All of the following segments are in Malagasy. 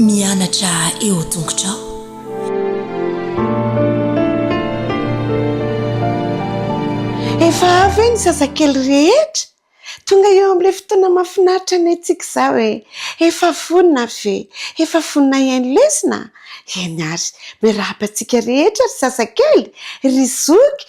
Mianatra eo tongotrao. Efa avy hoe ny zazakely rehetra? Tonga eo amin'ilay fotoana mahafinaritra ny antsika izao e! Efa vonona ve? Efa vonona hihaino lesona? Eny ary! Miarahaba antsika rehetra ry zazakely, ry zoky,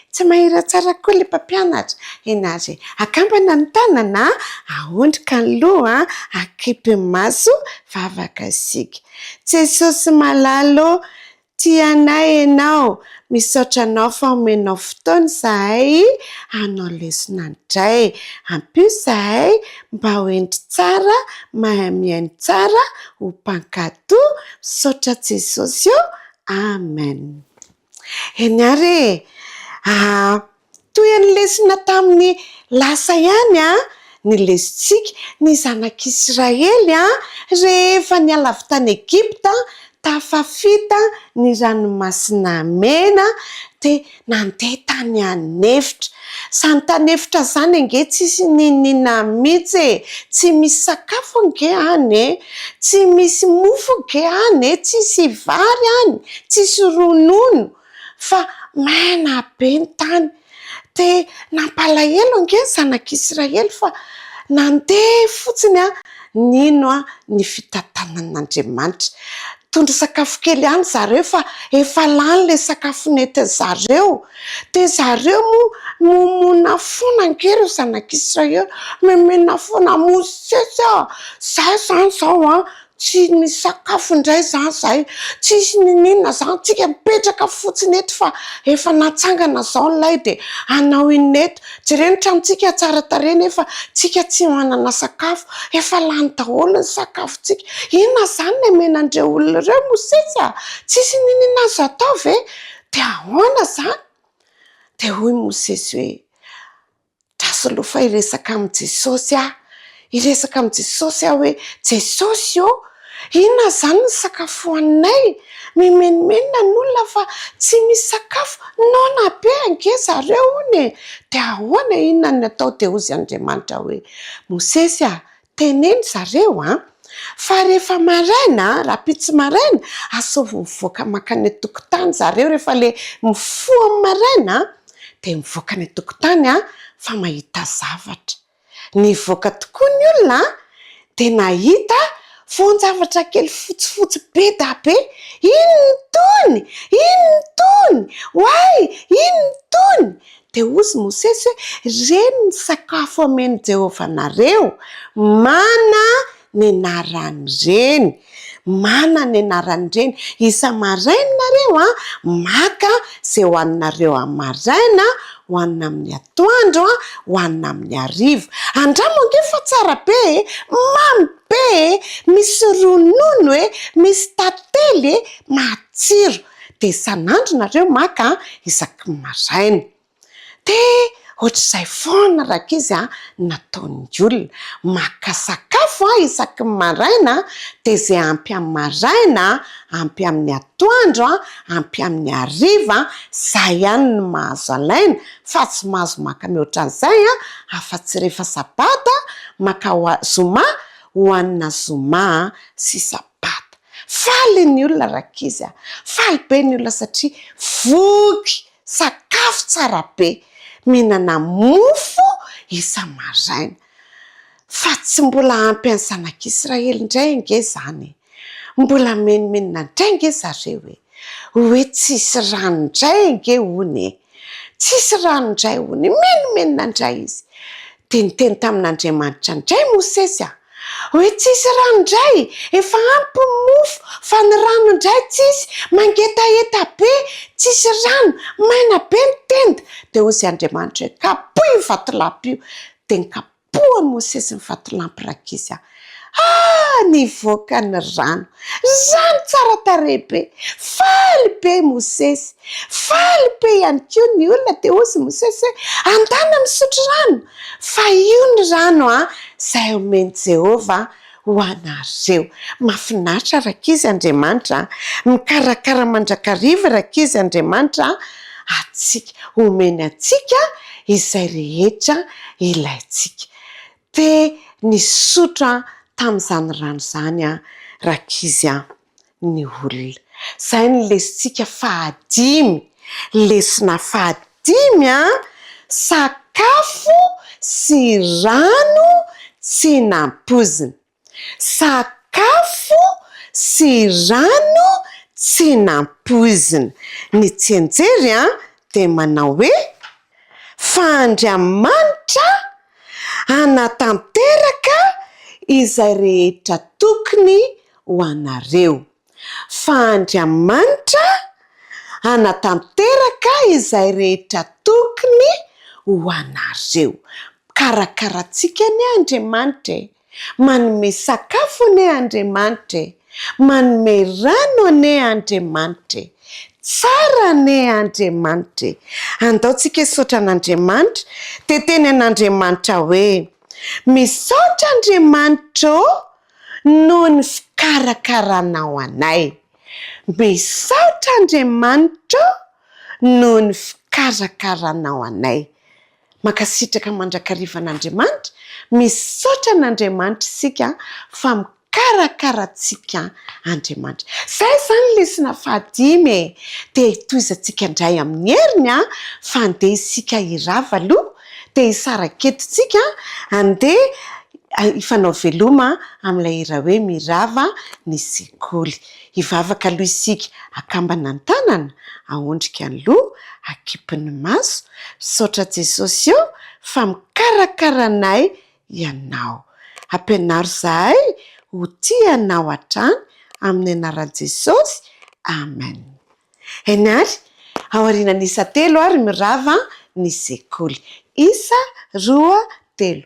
Tsy mahira tsara koa ilay mpampianatra. Henazy e! Akambana ny tanana a! Aondrika ny loha a! Akipy ny maso, vavaka isika. Jesosy malala ô! Tia anay Ianao. Misaotra Anao fa omenao fotoana izahay hanao lesona indray. Ampio izahay mba ho hendry tsara, mahay mihaino tsara, ho mpankatò. Misaotra Jesosy ô! Amen. Eny ary e! Ah, toy ny lesona tamin'ny lasa ihany ny lesontsika, ny Zanak'Israely rehefa niala avy tany Egypta, tafafita ny Ranomasina Mena dia nandeha tany an'efitra. Zany tany efitra zany ange tsisy n'inon'inona mitsy e! Tsy misy sakafo ange any e! Tsy misy mofo ange any e! Tsisy vary any, tsisy ronono fa maina be ny tany. Dia nampalahelo ange ny zanak'Israely fa nandeha fotsiny an! Nino ny fitantanan'Andriamanitra. Nitondra sakafo kely ihany zareo fa efa lany ilay sakafo nentin-dry zareo. Dia zareo moa mimonoa foana ange ireo zanak'i Israely. Mimina foana, Mosesy a! Izaho izany izao an, tsy nisakafo indray izany izahay, tsisy nininona izany, tsika mipetraka fotsiny eto fa efa natsangana izao ny lay dia hanao inona eto? Jereo ny tranontsika tsara tarehy nefa tsika tsy manana sakafo. Efa lany daholo ny sakafontsika. Inona izany no omen'andreo olona ireo Mosesy a! Tsisy niniana azy hatao ve? Dia ahoana izany? Dia hoy Mosesy hoe, Dra solofa hiresaka amin'i Jesosy aho. Hiresaka amin'i Jesosy aho hoe, Jesosy ô, inona izany ny sakafo hohaninay? Mimenomenona ny olona fa tsy misy sakafo. Noana be ange zareo hono e! Dia ahoana inona ny atao? Dia hozy Andriamanitra hoe, Mosesy a, teneno zareo an! Fa rehefa maraina, rahampitso maraina, asaovy mivoaka mankany an-tokotany zareo rehefa ilay mifoha amin'ny maraina dia mivoaka any an-tokotany fa mahita zavatra. Nivoaka tokoa ny olona an! dia nahita voan-javatra kely fotsifotsy be da be, inona itony? inona itony? oay! inona itony? dia hozy Mosesy hoe, ireny ny sakafo amen'i Jehovah anareo, mana ny anaran'ireny, manana ny anaran'ireny. Isa-maraina nareo a, maka izay hohaninareo amin'ny maraina, hohanina amin'ny atoandro, hohanina amin'ny hariva. Andramo ange fa tsara be e! Mamy be e! Misy ronono e! Misy tantely e! Matsiro. Dia isan'andro nareo maka isaky ny maraina. Dia ohatr'izay foana rankizy a, ny nataon'ny olona. Maka sakafo a, isaky ny maraina a, dia izay ampy amin'ny maraina, ampy amin'ny atoandro a, ampy amin'ny hariva, izay ihany no mahazo alaina, fa tsy mahazo maka mihoatra an'izay a, afa-tsy rehefa sabata, maka ho a, zoma, hohanina zoma sy sabata. Faly ny olona rankizy a, faly be ny olona satria voky Sakafo tsara be, mihinana mofo isa-maraina. Fa tsy mbola ampy an'ny zanak'Israely indray ange izany e! Mbola menomenona indray ange zareo e! Hoe tsisy rano indray ange hono e! Tsisy rano indray hono e! Menomenona indray izy. Dia niteny tamin'Andriamanitra indray Mosesy an! Oe tsisy rano ndray, efa ampy ny mofo fa ny rano ndray tsisy, mangetaheta be, tsisy rano, maina be ny tenda, dia hoy izay Andriamanitra hoe, kapohy io vatolampy io, dia nikapohan'i Mosesy ny vatolampy rankizy an! Ah! nivoaka ny rano, rano tsara tarehy be, faly be i Mosesy, faly be ihany koa ny olona, dia hoy izy Mosesy hoe, andana misotro rano, Fa io ny rano a zay omen'i Jehovah ho anareo. Mafinaritra rankizy Andriamanitra a. Mikarakara mandrakariva rankizy Andriamanitra antsika. Omeny antsika izay rehetra ilaintsika. Te nisotro aho tamin'izany rano izany aho rankizy a. ny olona. Izay ny lesintsika fahadimy. Lesona fahadimy an! Sakafo sy rano tsy nampoizina. Sakafo sy rano tsy nampoizina. Ny tsianjery an dia manao hoe. fa Andriamanitra hanatanteraka izay rehetra tokony ho anareo, fa Andriamanitra hanatanteraka izay rehetra tokony ho anareo. Mikarakara antsika anie Andriamanitra e! Manome sakafo anie Andriamanitra e! Manome rano anie Andriamanitra e! Tsara anie Andriamanitra e! Andao tsika hisaotra an'Andriamanitra dia teny an'Andriamanitra hoe, Misaotra Andriamanitra ô noho ny fikarakaranao anay. Misaotra Andriamanitra ô noho ny fikarakaranao anay. Mankasitraka mandrakariva an'Andriamanitra, misaotra an'Andriamanitra isika fa mikarakara antsika Andriamanitra. Izay izany lesona fahadimy e! Dia hitohizantsika indray amin'ny heriny an! Fa andeha isika hirava aloha, dia hisaraka eto isika andeha hifanaoveloma amin'ilay hira hoe Mirava ny sekoly. Hivavaka aloha isika akambana ny tanana, aondrika ny loha, akipy ny maso, misaotra Jesosy ô fa mikarakara anay Ianao. Ampianaro izahay ho tia Anao hatrany amin'ny anaran'i Jesosy, Amen. Eny ary, ao aorianan'isa telo ary mirava ny sekoly. Isa, roa, telo.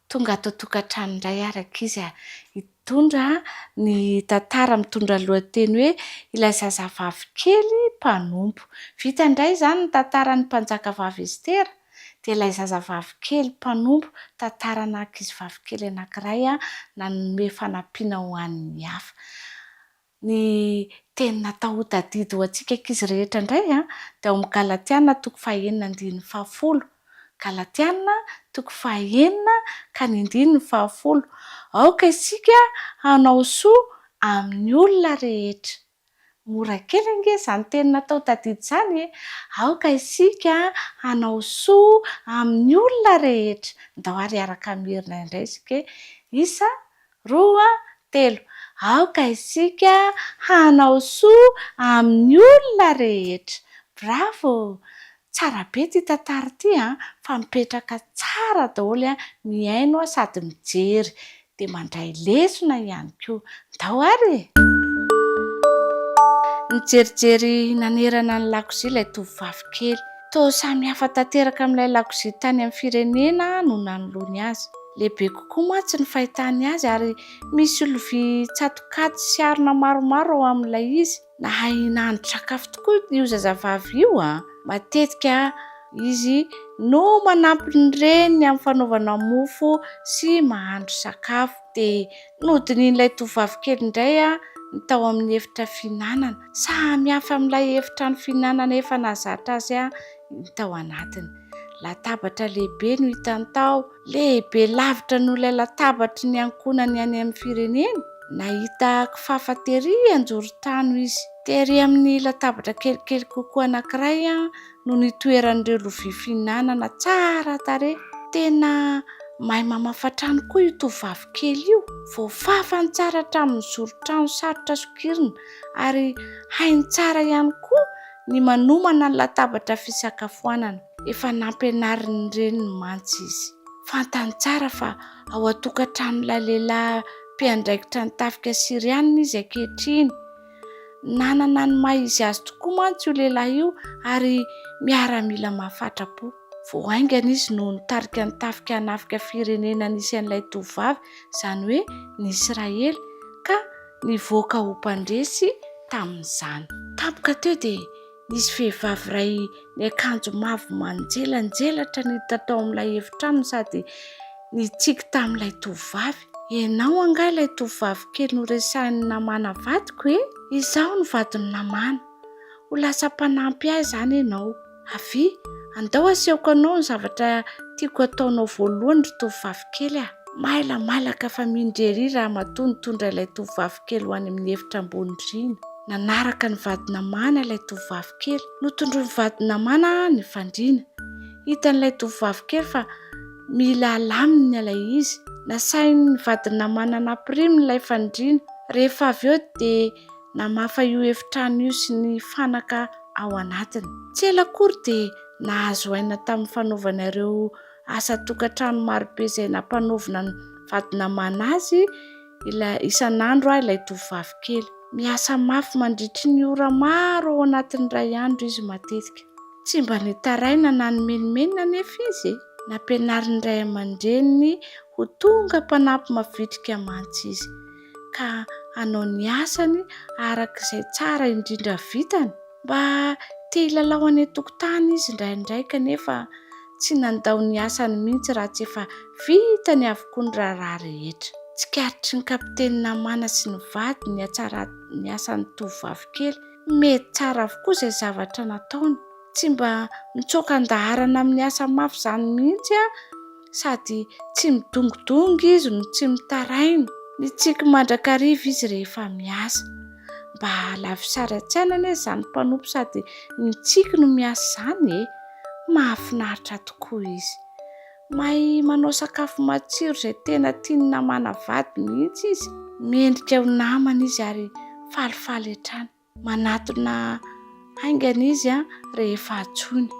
Tonga ato an-tokantrano indray ary ankizy a! Hitondra ny tantara mitondra lohateny hoe Ilay zazavavy kely mpanompo. Vita indray izany ny tantaran'ny Mpanjakavavy Estera, dia ilay zazavavy kely mpanompo, tantarana ankizivavy kely anankiray nanome fanampiana ho an'ny hafa. Ny teny natao ho tadidy ho antsika ankizy rehetra indray dia ao amin'ny Galatiana toko fahenina andininy fahafolo. Galatiana toko fahenina ka ny andininy fahafolo. Aoka isika hanao soa amin'ny olona rehetra. Mora kely ange izany teny natao ho tadidy izany e! Aoka isika hanao soa amin'ny olona rehetra. Ndao ary hiaraka mierina indray isika hoe, Isa Roa, telo, aoka isika hanao soa amin'ny olona rehetra. Bravo! Tsara be ity tantara ity an! Fa mipetraka tsara daholo an! Mihaino sady mijery. Dia mandray lesona ihany koa. Ndao ary e! Nijerijery nanerana ny lakozia ilay tovovavy kely. Toa samy hafa tanteraka amin'ilay lakozia tany amin'ny firenena no nanoloany azy. Lehibe kokoa mantsy ny fahitany azy ary misy lovia tsatokaty sy harona maromaro ao amin'ilay izy. Nahay nahandro sakafo tokoa io zazavavy io a! Matetika izy no manampy ny reniny amin'ny fanaovana mofo sy mahandro sakafo. Dia Nodinihin'ilay tovovavy kely indray ny tao amin'ny efitra fihinanana. Samihafa amin'ilay efitrano fihinanana efa nahazatra azy ny tao anatiny. Latabatra lehibe no hitany tao, lehibe lavitra noho ilay latabatry ny ankohonany any amin'ny fireneny. Nahita kifafa tery an-joron-trano izy. Tery amin'ny latabatra kelikely kokoa anankiray no nitoeran'ireo lovia fihinanana tsara tarehy. Tena mahay mamafa trano koa io tovovavy kely io. Voafafany tsara hatramin'ny zoron-trano sarotra sokirina, ary hainy tsara ihany koa ny manomana ny latabatra fisakafoanana. Efa nampianarin'ny reniny mantsy izy. Fantany tsara fa ao an-tokantranon'ilay lehilahy mpiandraikitra ny tafika Syriana izy ankehitriny. Nanana ny maha izy azy tokoa mantsy io lehilahy io ary miaramila mahafatra-po. Vao haingana izy no nitarika ny tafika hanafika firenena nisy an'ilay tovovavy, izany hoe ny Israely, ka nivoaka ho mpandresy tamin'izany. Tampoka teo dia Nisy vehivavy iray niakanjo mavo manjelanjelatra niditra tao amin'ilay efitrano sady nitsiky tamin'ilay tovovavy. Ianao angaha ilay tovovavy kely noresahin'i Namàna vadiko e? Izaho no vadin'i Namàna. Ho lasa mpanampy ahy izany ianao. Avia, andao asehoko anao ny zavatra tiako hataonao voalohany ry tovovavy kely a! Mailamailaka fa mindry erỳ ramatoa nitondra ilay tovovavy kely ho any amin'ny efitra ambony rihana. Nanaraka ny vady namana ilay tovovavy kely. Notondroin'ny vady namana ny fandriana. Hitan'ilay tovovavy kely fa mila alaminy ilay izy. Nasain'ny vady namana nampiriminy ilay fandriana. Rehefa avy eo dia namafa io efitrano io sy ny fanaka ao anatiny. Tsy ela akory dia nahazo aina tamin'ny fanaovana ireo asa an-tokantrano marobe izay nampanaovina ny vady namana azy Ilay isan'andro aho ilay tovovavy kely. Miasa mafy mandritry ny ora maro ao anatin'ny iray andro izy matetika. Tsy mba nitaraina na nimenomenona anefa izy e! Nampianarin'ny ray aman-dreniny ho tonga mpanampy mavitrika mantsy izy, ka hanao ny asany araka izay tsara indrindra vitany. Mba te hilalao any an-tokotany izy indraindray kanefa Tsy nandao ny asany mihitsy raha tsy efa vitany avokoa ny raharaha rehetra. Tsikaritry ny kapiteny namana sy ny vadiny ny hatsaran'ny asan'ny tovovavy kely. Mety tsara avokoa izay zavatra nataony. Tsy mba mitsoaka an-daharana amin'ny asa mafy izany mihitsy an! Sady tsy midongidongy izy no tsy mitaraina. Mitsiky mandrakariva izy rehefa miasa. mba hahalavo sary an-tsaina anie izany mpanompo sady ny tsiky no miasa izany e! mahafinaritra tokoa izy. Mahay manao sakafo matsiro izay tena tian'ny namana vady mihitsy izy. Mendrika ho namana izy ary falifaly hatrany. Manatona Haingana izy rehefa antsoina.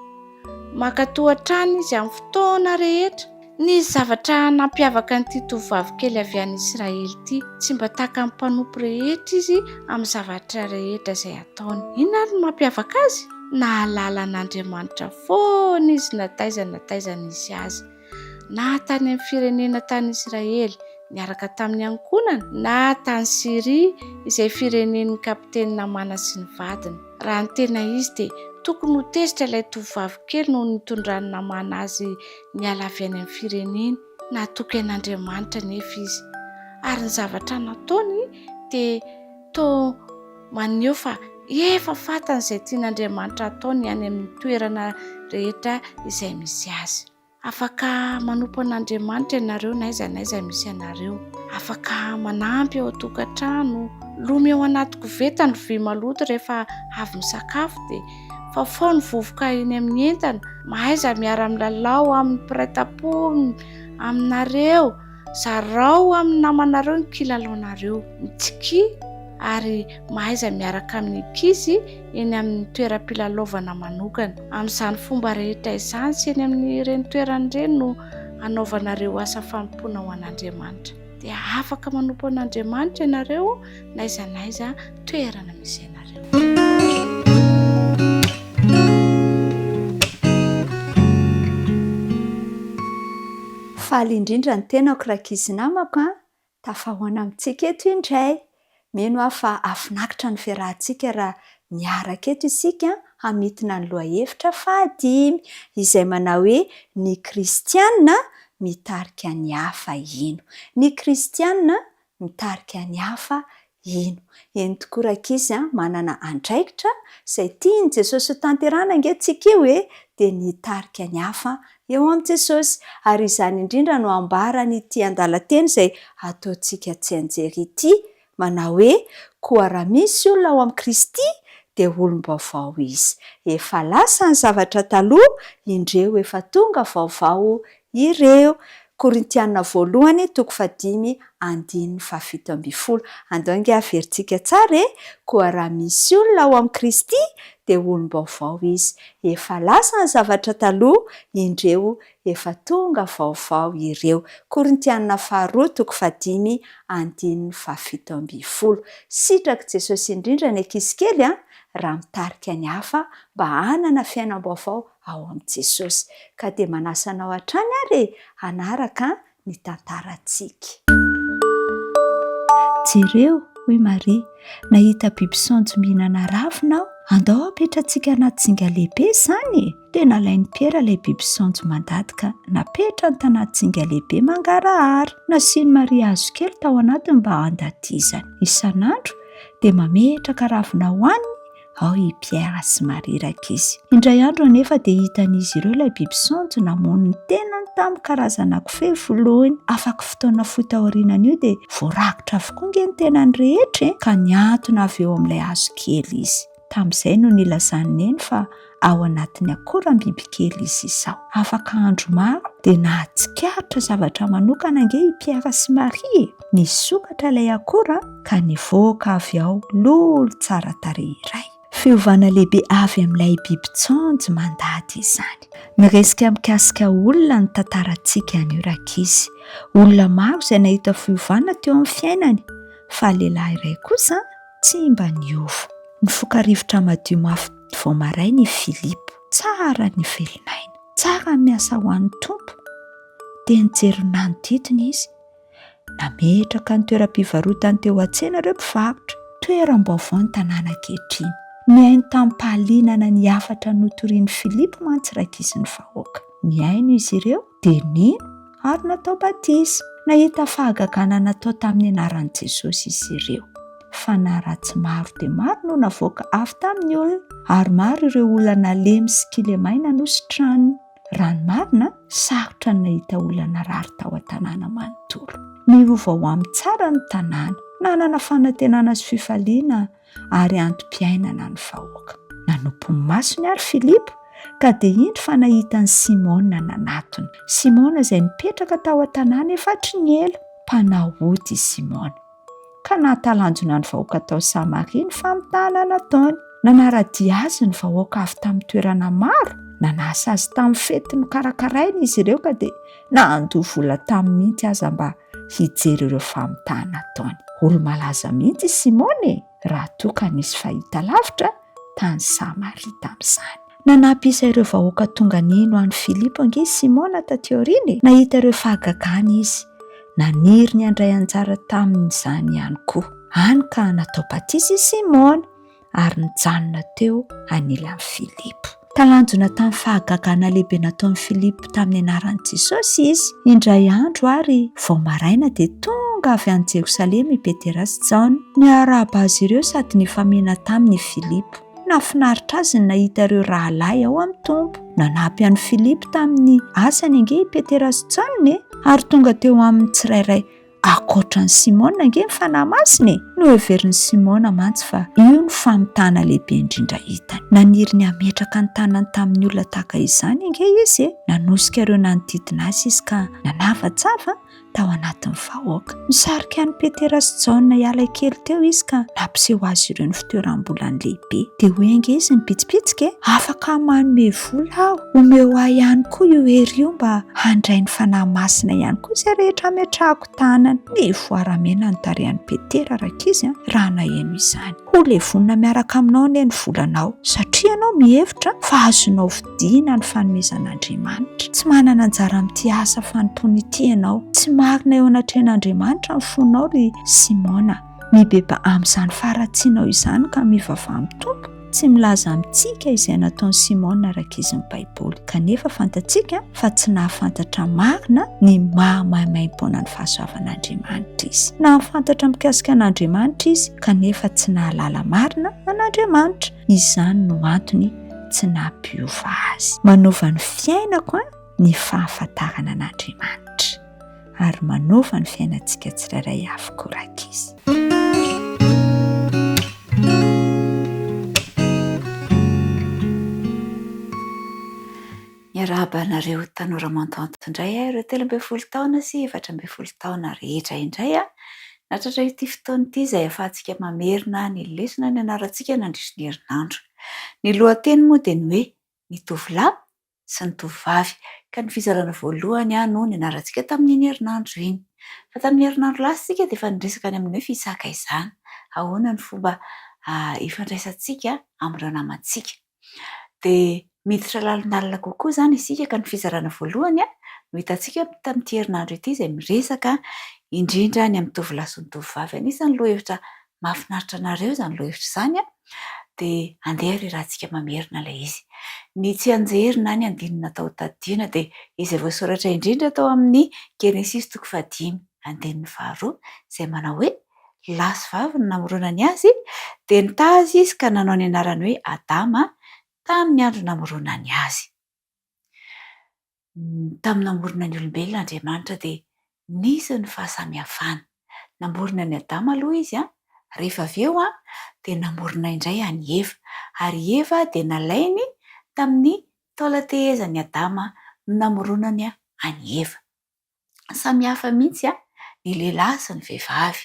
Mankatò hatrany izy amin'ny fotoana rehetra. Nisy zavatra nampiavaka an'ity tovovavy kely avy any Israely ity. Tsy mba takan'ny mpanompo rehetra izy amin'ny zavatra rehetra izay ataony. Inona àry no mampiavaka azy? Nahalala an'Andriamanitra foana izy na taiza na taiza nisy azy. na tany amin'ny firenena tany Israely niaraka tamin'ny ankohonany, na tany Syria izay firenen'ny kapiteny Namàna sy ny vadiny. Raha ny tena izy dia tokony ho tezitra ilay tovovavy kely noho ny nitondran'i Namàna azy niala avy any amin'ny fireneny. Natoky an'Andriamanitra anefa izy, ary ny zavatra nataony dia Toa maneho fa efa fantany izay tian'Andriamanitra hataony any amin'ny toerana rehetra izay misy azy. Afaka manompo an'Andriamanitra ianareo n'aiza n'aiza misy anareo. Afaka manampy ao an-tokantrano. Lomy ao anaty koveta ny vy maloto rehefa avy misakafo dia fafao ny vovoka eny amin'ny entana. Mahaiza miara-milalao amin'ny mpiray tampo aminareo. Zarao amin'ny namanareo ny kilalaonareo. Mitsikia ary mahaiza miaraka amin'ny ankizy eny amin'ny toeram-pilalaovana manokana. Amin'izany fomba rehetra izany sy eny amin'ireny toerana ireny no hanaovanareo asa fanompoana ho an'Andriamanitra. Dia afaka manompo an'Andriamanitra ianareo n'aiza n'aiza. toerana misy anareo. Faly indrindra ny tenako rankizy namako a! Tafahaona amintsika eto indray. Mino aho fa hafinaritra ny fiarahantsika raha miaraka eto isika hamintina ny lohahevitra fahadimy izay manao hoe Ny Kristiana mitarika ny hafa hino. Ny Kristiana mitarika ny hafa hino. Eny tokoa rankizy a, manana andraikitra izay tian'i Jesosy hotanterahana ange tsika io e, dia ny hitarika ny hafa eo amin'i Jesosy. Ary izany indrindra no ambaran'ity andalan-teny izay ataontsika tsianjery ity, manao hoe, Koa raha misy olona ao amin'i Kristy, dia olom-baovao izy. Efa lasa ny zavatra taloha, indreo efa tonga vaovao Ireo, Korintiana voalohany toko fahadimy andininy fahafito ambin'ny folo. Andao ange haverintsika tsara e! Koa raha misy olona ao amin'i Kristy, dia olom-baovao izy. Efa lasa ny zavatra taloha, indreo, efa tonga vaovao ireo. Korintiana faharoa toko fahadimy andininy fahafito ambin'ny folo. Sitrak'i Jesosy indrindra ny ankizy kely an! raha mitarika ny hafa mba hanana fiainam-baovao ao amin'i Jesosy. Ka dia manasa anao hatrany ary e hanaraka ny tantarantsika. Jereo, hoy Maria, nahita biby saonjo mihinana ravina aho. Andao hapetratsika anaty zinga lehibe izany e! Tena alain'i Piera ilay biby saonjo mandady ka napetrany tanaty zinga lehibe mangarahara. Nasian'i Maria hazo kely tao anatiny mba handatizany. Isan'andro dia mametraka ravina hohaniny ao i Pierre sy Marie rankizy. Indray andro anefa dia hitan'izy ireo ilay biby saonjo namono ny tenany tamin'ny karazana kofehy voloiny. Afaky fotoana fohy taorianan'io dia voarakotra avokoa ange ny tenany rehetra e! ka nihantona avy eo amin'ilay hazo kely izy. Tamin'izay no nilazan'i Neny fa ao anatin'ny akoram-biby kely izy izao. Afaka andro maro dia nahatsikaritra zavatra manokana ange i Pierre sy Marie e! Nisokatra ilay akora ka nivoaka avy ao lolo tsara tarehy iray. Fiovana lehibe avy amin'ilay bibin-tsaonjo mandady izany. Miresika mikasika olona ny tantarantsika anio rankizy. Olona maro izay nahita fiovana teo amin'ny fiainany, fa lehilahy iray kosa tsy mba niova. Nifoka rivotra madio mafy vao maraina i Philip. Tsara ny velon'aina. Tsara ny miasa ho an'ny Tompo. Dia nijery ny nanodidina izy. Nametraka ny toeram-pivarotany teo an-tsena ireo mpivarotra. Toeram-baovao ny tanàna ankehitriny. Nihaino tamim-pahalianana ny hafatra notorian'i Filipo mantsy iray ankizin'ny vahoaka. Nihaino izy ireo, dia nino, ary natao batisa. Nahita fahagagana natao tamin'ny anaran'i Jesosy izy ireo. Fanahy ratsy maro dia maro no navoaka avy tamin'ny olona, ary maro ireo olona nalemy sy kilemahy nanositrana. Raha ny marina, sarotra ny nahita olona narary tao an-tanàna manontolo. Niova ho amin'ny tsara ny tanàna. Nanana fanantenana sy fifaliana ary antom-piainana ny vahoaka. Nanompo ny masony àry Filipo, ka dia indro fa nahita an'i Simôna nanatona. Simôna izay nipetraka tao an-tanàna efa hatry ny ela. Mpanao ody i Simôna. ka nahatalanjona ny vahoaka tao Samaria ny famitahana nataony. Nanara-dia azy ny vahoaka avy tamin'ny toerana maro, nanasa azy tamin'ny fety nokarakarainy izy ireo ka dia nandoa vola taminy mihitsy aza mba hijery ireo famitahana ataony. Olo-malaza mihitsy i Simona e! raha toa ka nisy fahitalavitra tany Samaria tamin'izany. Nanampy isa ireo vahoaka tonga nino an'i Filipo ange i Simona tatỳ aoriana e! Nahita ireo fahagagany izy. Naniry ny handray anjara tamin'izany ihany koa. Hany ka natao batisa i Simona, ary nijanona teo anilan'i Filipo. Talanjona tamin'ny fahagagana lehibe nataon'i Filipo tamin'ny anaran'i Jesosy izy. Indray andro àry, vao maraina, dia tonga avy any Jerosalema i Petera sy Jaona. Niarahaba azy ireo sady nifamihina taminy i Filipo. Nahafinaritra azy ny nahita ireo rahalahy ao amin'ny Tompo. Nanampy an'i Filipo tamin'ny asany ange i Petera sy Jaona e! Ary tonga teo aminy tsirairay. Ankoatra an'i Simona ange ny Fanahy Masina e! Noheverin'i Simona mantsy fa io no famitana lehibe indrindra hitany. Naniry ny hametraka ny tanany tamin'ny olona tahaka izany ange izy e! Nanosika ireo nanodidina azy izy ka nanavatsava tao anatin'ny vahoaka. Nisarika an'i Petera sy Jaona hiala kely teo izy ka nampiseho azy ireo ny fitoeram-bolany lehibe. Dia hoy ange izy nibitsibitsika e! Afaka manome vola aho. Omeo ahy ihany koa io hery io mba handray ny Fanahy Masina ihany koa izay rehetra ametrahako tanana. Mivoara mena ny tarehan'i Petera rankizy an, raha naheno izany. Ho levonina miaraka aminao anie ny volanao, satria ianao mihevitra fa azonao vidiana ny fanomezan'Andriamanitra. Tsy manana anjara amin'ity asa fanompoana ity ianao. Tsy marina eo anatrehan'Andriamanitra ny fonao ry Simona. Mibeba amin'izany faharatsianao izany ka mivavaha amin'ny Tompo, tsy milaza amintsika izay nataon'i Simona araka izy ny Baiboly. Kanefa fantatsika fa tsy nahafantatra marina ny maha maimaimpoanan'ny fahasoavan'Andriamanitra izy. Nahafantatra mikasika an'Andriamanitra izy, kanefa tsy nahalala marina an'Andriamanitra. Izany no antony tsy nampiova azy. Manova ny fiainako ny fahafantarana an'Andriamanitra. ary manova ny fiainantsika tsirairay avokoa rankizy. Miarahaba anareo tanora mantanty indray aho ireo telo ambin'ny folo taona sy efatra ambin'ny folo taona rehetra indray aho. Natratra ity fotoana ity izay ahafahantsika mamerina ny lesona nianarantsika nandritry ny herinandro. Ny lohateny moa dia ny hoe ny tovolahy sy ny tovovavy, ka ny fizarana voalohany no nianarantsika tamin'iny herinandro iny. Fa tamin'ny herinandro lasa isika dia efa niresaka ny amin'ny hoe fisaka izany, ahoana ny fomba hifandraisantsika amin'ireo namantsika. Dia miditra lalindalina kokoa izany isika ka ny fizarana voalohany no hitantsika tamin'ity herinandro ity izay miresaka indrindra ny amin'ny tovolahy sy ny tovovavy. Anisan'ny lohahevitra mahafinaritra anareo izany lohahevitra izany an, dia andeha ry Ratsika mamerina ilay izy. Ny tsianjery na ny andininy atao tadidiana dia izay voasoratra indrindra tao amin'ny Genesisy toko fahadimy andininy faharoa izay manao hoe, Lahy sy vavy no namoronany azy, dia nitaha azy izy ka nanao ny anarany hoe Adama tamin'ny andro namoronany azy. Tamin'ny namorona ny olombelona Andriamanitra dia nisy ny fahasamihafana. Namorona an'i Adama aloha Izy an, rehefa avy eo an, dia namorona indray an'i Eva. Ary i Eva dia nalainy tamin'ny taolan-tehezan'i Adama no namoronany an'i Eva. samy hafa mihitsy an, ny lehilahy sy ny vehivavy,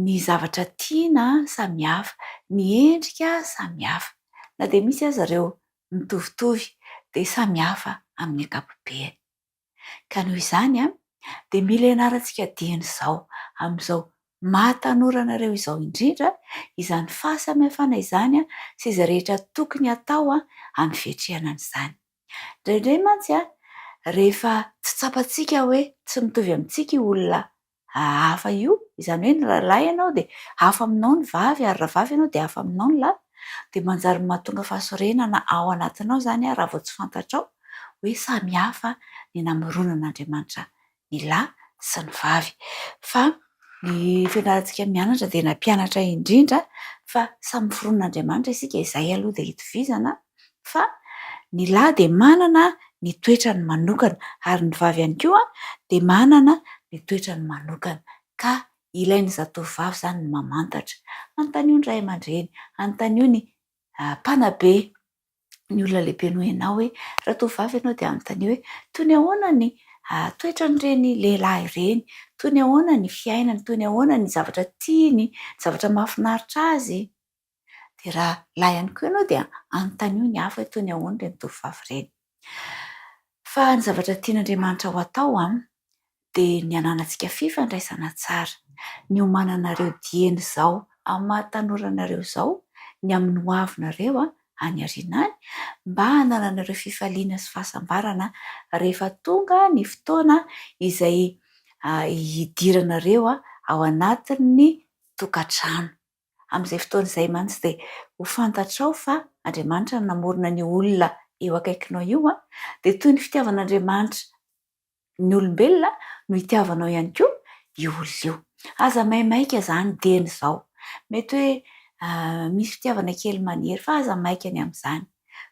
ny zavatra tiana samy hafa, ny endrika samy hafa, na dia misy aza ireo mitovitovy dia samy hafa amin'ny ankapobeny. Ka noho izany an, dia mila ianarantsika dieny izao amin'izao maha tanora anareo izao indrindra izany fahasamihafana izany sy izay rehetra tokony hatao amin'ny fiatrehana an'izany. Indraindray mantsy an, rehefa tsy tsapantsika hoe tsy mitovy amintsika io olona hafa io, izany hoe ny rahalahy ianao dia hafa aminao ny vavy ary raha vavy ianao dia hafa aminao ny lahy, dia manjary mahatonga fahasorenana ao anatinao izany raha vao tsy fantatrao hoe samy hafa ny namoronan'Andriamanitra ny lahy sy ny vavy fa ny fianarantsika mianatra dia nampianatra indrindra fa samy miforonina Andriamanitra isika izay aloha dia itovizana fa ny lahy dia manana ny toetrany manokana ary ny vavy ihany koa dia manana ny toetrany manokana ka ilain'ny zatovovavy izany ny mamantatra antanio ny ray aman-dreny antanio ny mpanabe ny olona lehibe noho ianao hoe ratovovavy ianao dia manontania hoe toy ny ahoana ny toetran'ireny lehilahy ireny, toy ny ahoana ny fiainany, toy ny ahoana ny zavatra tiany, ny zavatra mahafinaritra azy. Dia raha lahy ihany koa ianao dia anontanio ny hafa hoe toy ny ahoana ireny tovovavy ireny. Fa ny zavatra tian'Andriamanitra ho atao, dia ny hananantsika fifandraisana tsara, ny homananareo dieny izao amin'ny maha tanora anareo izao, ny amin'ny ho avinareo any aoriana any, mba hanananareo fifaliana sy fahasambarana rehefa tonga ny fotoana izay hidiranareo ao anatin'ny tokantrano. Amin'izay fotoana izay mantsy dia ho fantatrao fa Andriamanitra no namorona an'io olona eo akaikinao io, dia toy ny fitiavan'Andriamanitra ny olombelona no itiavanao ihany koa io olona io. Aza maimaika izany dieny izao. Mety hoe misy fitiavana kely maniry fa aza maika ny amin'izany.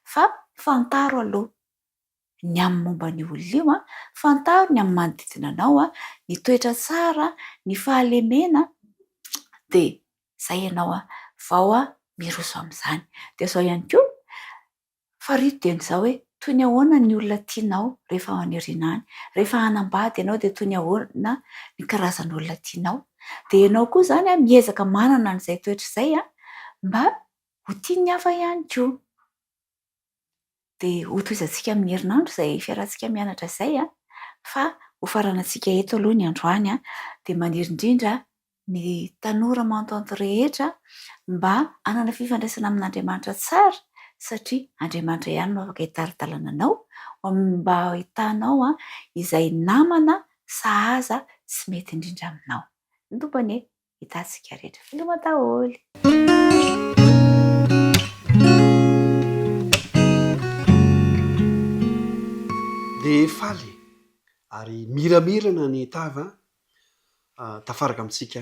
Fa fantaro aloha ny amin'ny momba an'io olona io, fantaro ny amin'ny manodidina anao, ny toetra tsara, ny fahalemena, dia izay ianao vao miroso amin'izany. Dia izao ihany koa, Farihy dia ny zao hoe toy ny ahoana ny olona tianao rehefa ao an'irina any, rehefa hanambady ianao dia toy ny ahoana ny karazan'olona tianao, dia ianao koa izany miezaka manana an'izay toetra izay mba ho tian'ny hafa ihany koa. Dia hotohizantsika amin'ny herinandro izay fiarahantsika mianatra izay fa hofaranantsika eto aloha ny androany dia maniry indrindra ny tanora mantonto rehetra mba hanana fifandraisana amin'Andriamanitra tsara satria Andriamanitra ihany no afaka hitari-dalana anao mba hahitanao izay namana sahaza sy mety indrindra aminao. Ny Tompo anie hitantsika rehetra. Veloma daholo! Dia faly ary miramirana ny tava tafaraka amintsika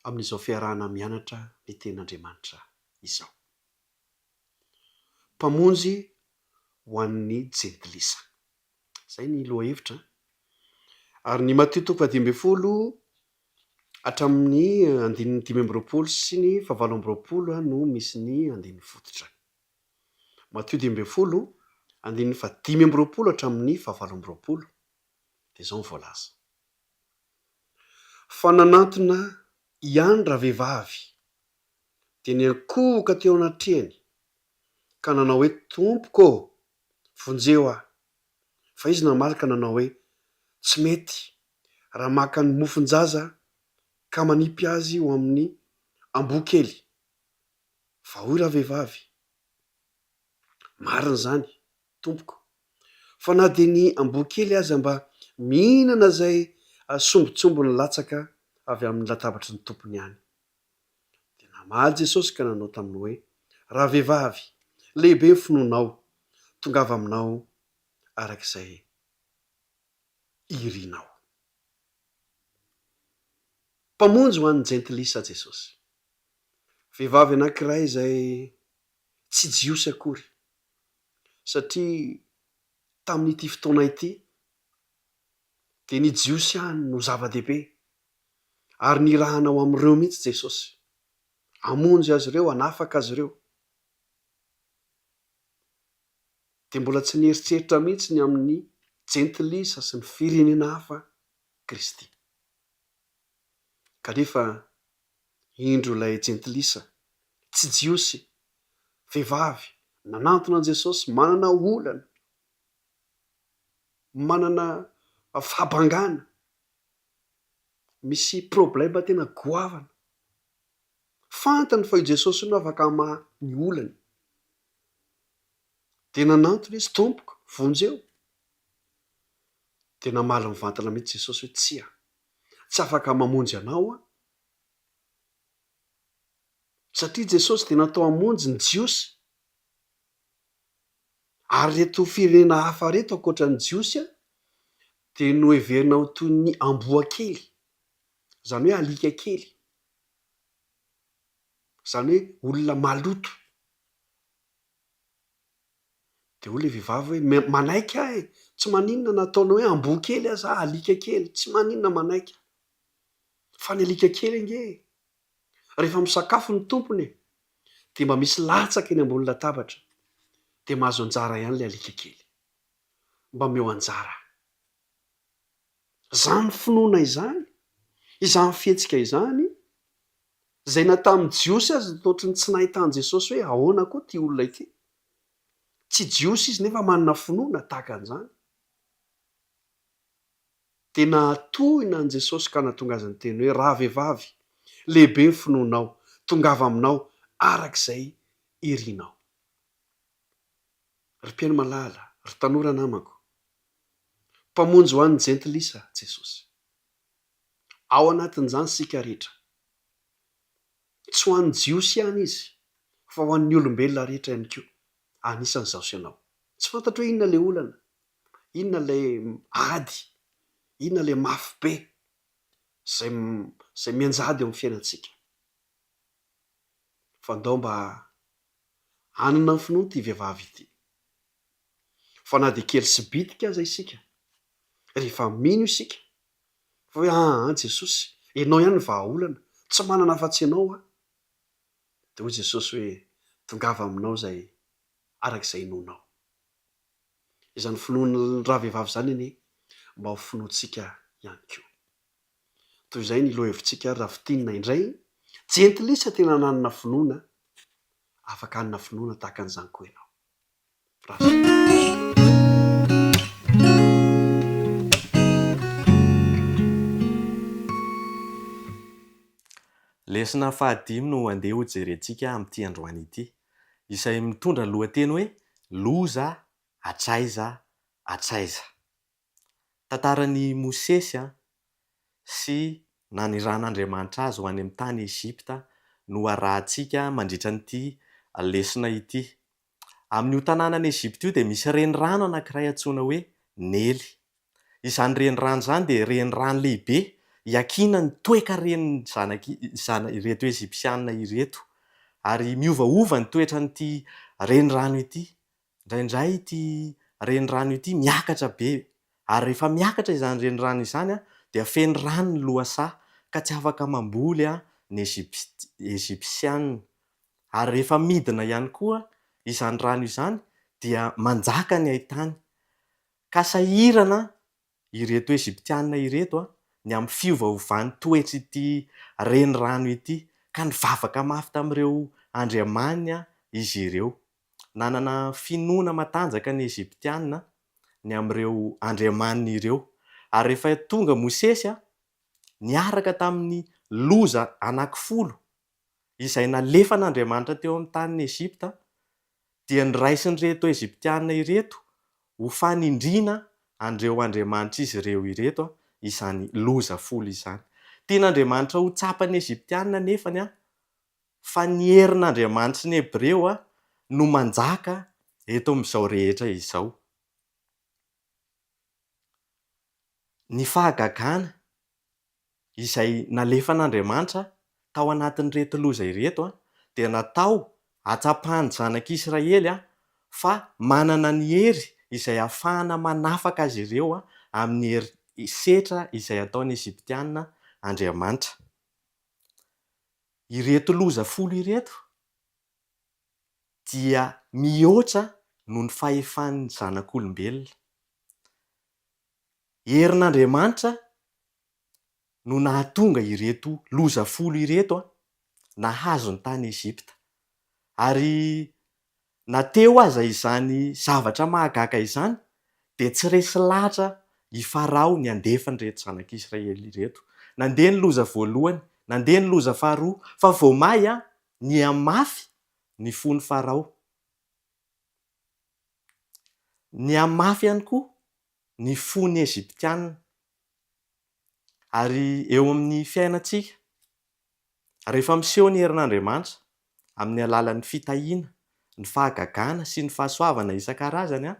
amin'izao fiarahana mianatra ny Tenin'Andriamanitra izao. Mpamonjy ho an'ny jentilisa. Izay ny lohahevitra. Ary ny Matio toko fahadimy ambin'ny folo hatramin'ny andininy dimy amby roapolo sy ny fahavalo amby roapolo no misy ny andininy fototra. Matio dimy ambin'ny folo, andininy fahadimy amby roapolo hatramin'ny fahavalo amby roapolo, dia izao ny voalaza. Fa nanantona ihany ravehivavy, dia niankohoka teo anatrehany, ka nanao hoe, Tompoko ô, vonjeo ahy. Fa izy namaly ka nanao hoe, Tsy mety, raha maka ny mofon-jaza aho, ka manipy azy ho amin'ny amboa kely. Fa hoy ravehivavy, Marina izany. tompoko. Fa na dia ny amboa kely aza mba mihinana izay sombintsombiny latsaka avy amin'ny latabatry ny tompony ihany. Dia namaly Jesosy ka nanao taminy hoe, Ravehivavy, lehibe ny finoanao, tongava aminao araka izay irinao. Mpamonjy ho an'ny jentilisa Jesosy. Vehivavy anankiray izay tsy Jiosy akory satria tamin'ity fotoana ity dia ny Jiosy ihany no zava-dehibe ary nirahana ho amin'ireo mihitsy Jesosy, hamonjy azy ireo, hanafaka azy ireo. Dia mbola tsy nieritreritra mihitsy ny amin'ny jentilisa sy ny firenena hafa Kristy. Kanefa Indro ilay jentilisa, tsy Jiosy, vehivavy, nanantona an'i Jesosy, manana olana, manana fahabangana, misy problema tena goavana. Fantany fa io Jesosy io no afaka hamaha ny olany. Dia nanantona izy, Tompoko, vonjeo. Dia namaly mivantana mihitsy Jesosy hoe, Tsia. Tsy afaka mamonjy anao aho. Satria Jesosy dia natao hamonjy ny Jiosy. Ary ireto firenena hafa ireto ankoatra ny Jiosy dia noheverina ho toy ny amboa kely, izany hoe alika kely, izany hoe olona maloto. Dia hoy ilay vehivavy hoe, me, manaiky aho e! Tsy maninona na ataonao hoe amboa kely aza aho, alika kely, tsy maninona manaiky aho. Fa ny alika kely ange e! Rehefa misakafo ny tompony e! Dia mba misy latsaka eny ambony latabatra, dia mahazo anjara ihany ilay alika kely. Mba omeo anjara. Izany finoana izany, izany fihetsika izany, Izay na tamin'ny Jiosy aza dia ohatry ny tsy nahita an'i Jesosy hoe ahoana koa ity olona ity. Tsy Jiosy izy nefa manana finoana tahaka an'izany. Dia nahatohina an'i Jesosy ka nahatonga azy niteny hoe, Rahavehivavy, lehibe ny finoanao, tongava aminao araka izay irinao. Ry mpihaino malala, ry tanora namako, Mpamonjy ho an'ny Jentilisa Jesosy. Ao anatin'izany isika rehetra. Tsy ho an'ny Jiosy ihany izy fa ho an'ny olombelona rehetra ihany koa, anisan' izaho sy ianao. Tsy fantatro hoe inona ilay olana, inona ilay ady, inona ilay mafy be izay izay mianjady eo amin'ny fiainantsika. Fa ndao mba hanana ny finoan'ity vehivavy ity. fa na dia kely sy bitika aza isika, rehefa mino isika fa hoe aa Jesosy enao ihany ny vahaolana, tsy manana afa-tsy enao aho, dia hoy Jesosy hoe tongava aminao izay araka izay inoanao. Izany finoan'ny ravehivavy izany anie mba ho finoantsika ihany koa. Toy izay ny lohahevitsika ary raha fintinina indray, jentilisa tena nanana finoana, afaka hanana finoana tahaka an'izany koa ianao. Lesona fahadimy no andeha ho jerentsika amin'ity androany ity, izay mitondra ny lohateny hoe Loza hatraiza hatraiza. Tantaran'i Mosesy sy nanirahan'Andriamanitra azy ho any amin'ny tany Egypta no arahantsika mandritra an'ity lesona ity. Amin'io tanànan'i Egypta io dia misy renirano anankiray antsoina hoe Nely. Izany renirano izany dia renirano lehibe iakinan'ny toekaren'ny zanak'i zana ireto Egyptiana ireto ary miovaova ny toetran'ity renirano ity Indraindray ity renirano ity miakatra be ary rehefa miakatra izany renirano izany dia feno rano ny lohasaha ka tsy afaka mamboly ny Egyptiana. Ary rehefa midina ihany koa izany rano izany dia manjaka ny haitany ka sahirana ireto Egyptiana ireto ny amin'ny fiovaovan'ny toetr'ity renirano ity, ka nivavaka mafy tamin'ireo andriamany izy ireo. Nanana finoana matanjaka ny Egyptiana ny amin'ireo andriamaniny ireo, ary rehefa tonga Mosesy niaraka tamin'ny loza anankifolo izay nalefan'Andriamanitra teo amin'ny tanin'i Egypta, dia noraisin'ireto Egyptiana ireto ho fanindriana an'ireo andriamanitr'izy ireo ireto izany loza folo izany. Tian'Andriamanitra ho tsapan'ny Egyptiana anefany fa ny herin'Andriamanitry ny Hebreo no manjaka eto amin'izao rehetra izao. Ny fahagagana izay nalefan'Andriamanitra tao anatin'ireto loza ireto dia natao hatsapan'ny zanak'Israely fa manana ny hery izay hahafahana manafaka azy ireo amin'ny hery setra izay ataon'ny Egyptiana Andriamanitra. Ireto loza folo ireto dia mihoatra noho ny fahefan'ny zanak'olombelona. Herin'Andriamanitra no nahatonga ireto loza folo ireto nahazo ny tany Egypta. Ary na teo aza izany zavatra mahagaga izany dia tsy resy lahatra i Farao ny handefa an'ireto zanak'Israely ireto. Nandeha ny loza voalohany, nandeha ny loza faharoa, fa vao may nihamafy ny fon'i Farao. Nihamafy ihany koa ny fo ny Egyptiana, ary eo amin'ny fiainantsika, rehefa miseho ny herin'Andriamanitra amin'ny alalan'ny fitahiana, ny fahagagana sy ny fahasoavana isan-karazany,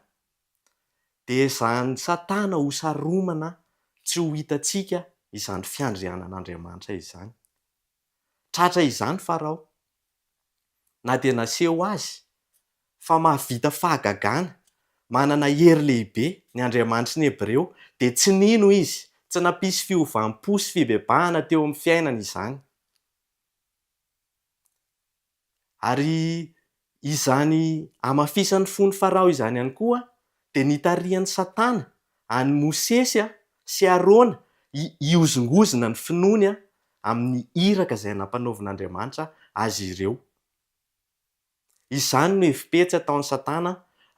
dia ezahin'i Satana ho saromana tsy ho hitantsika izany fiandrianan'Andriamanitra izany. Tratra izany Farao, na dia naseho azy fa mahavita fahagagana, manana hery lehibe, ny Andriamanitry ny Hebreo, dia tsy nino izy, tsy nampisy fiovam-po sy fibebahana teo amin'ny fiainany izany. Ary izany hamafisan'ny fon'i Farao izany ihany koa dia nitarihan'i Satana an'i Mosesy sy Arona hihozongozona ny finoany amin'ny iraka izay nampanaovin'Andriamanitra azy ireo. Izany no hevi-petsy ataon'i Satana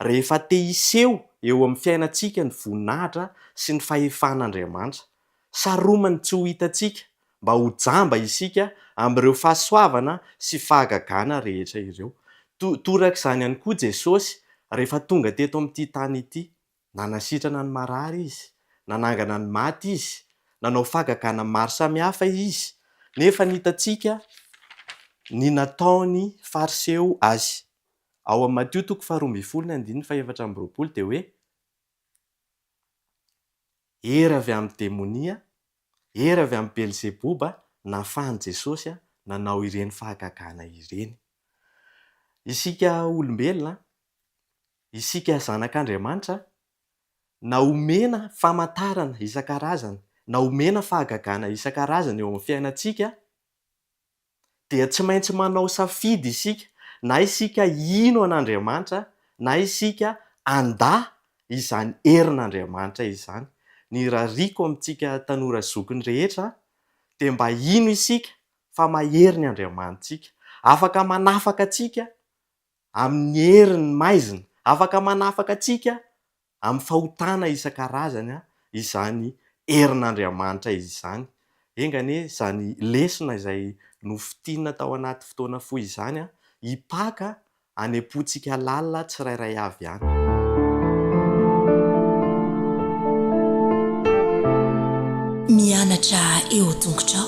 rehefa te hiseho eo amin'ny fiainantsika ny voninahitra sy ny fahefan'Andriamanitra. Saromany tsy ho hitantsika mba ho jamba isika amin'ireo fahasoavana sy fahagagana rehetra ireo. Torak'izany ihany koa Jesosy rehefa tonga teto amin'ity tany ity. Nanasitrana ny marary Izy, nanangana ny maty Izy, nanao fahagagana maro samihafa Izy, nefa hitantsika ny nataon'ny Fariseo Azy. Ao amin'ny Matio toko faharoa ambin'ny folo ny andininy fahefatra amby roapolo dia hoe. Hery avy amin'ny demonia, hery avy amin'i Belzeboba no nahafahan'i Jesosy nanao ireny fahagagana ireny. Isika olombelona, isika zanak'Andriamanitra, na omena famantarana isan-karazany, na omena fahagagana isan-karazany eo amin'ny fiainantsika, dia tsy maintsy manao safidy isika, na isika hino an'Andriamanitra na isika handà izany herin'Andriamanitra izany. Ny irariako amintsika tanora zokiny rehetra dia mba hino isika fa mahery ny Andriamanitsika. Afaka manafaka antsika amin'ny herin'ny maizina. Afaka manafaka antsika amin'ny fahotana isan-karazany izany herin'Andriamanitra izany. Enga anie izany lesona izay nofintinina tao anaty fotoana fohy izany hipaka any am-pontsika lalina tsirairay avy any. Mianatra eo an-tongotrao.